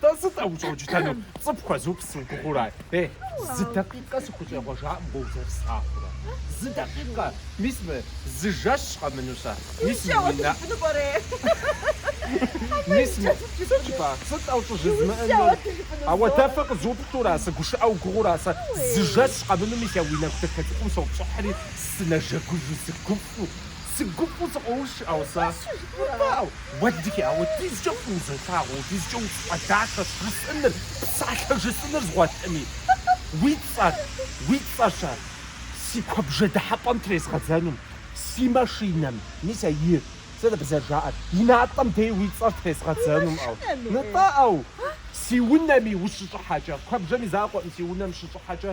Дэ сыт а ущӏэукӏытэнур? Цӏыху хуэзыупс уи гугъэу ара? Ей, зы дакъикъэ сыхущӏегъуэжакъым уэ узэрыслъагъурэ. Зы дакъикъэ! Мис мы зы жэщ къэмыну сэ? Мис мы уи нэ. Мис мы. Сыт жыпӏа? Сыт а ущӏыжызмыӏэнур? Ауэдэ фэ къызуплъу ара? Сыгушыӏэ уи гугъэу ара сэ? Зы жэщ къэмыну мис а уи нэгу дэтелъхьум сопщӏыхьри, сынэжэгужу, сыгуфӏу. Сыгу гуфӏэу сыкъоуш, ауэ сэ. Уфӏэӏу, Уэлэхьи, ауэ апхуэдизкӏэ фӏыуэ узолъагъу, апхуэдизкӏэ удахэщ жысӏэныр, псалъэ жысӏэныр згъуэтми. Уи цӏэр, уи цӏэращ. Си куэбжэ дыхьэпӏэм трезгъэдзэнум, си машинэм, мис а и, сэ дапщэ зэрыжаӏэр, и натӏэм дей уи цӏэр трезгъэдзэнум, ауэ. Нытӏэ, ауэ. Си унэми ущыщӏыхьэкӏэ, куэбжэм и закъуэӏым, си унэм щыщӏыхьэкӏэ.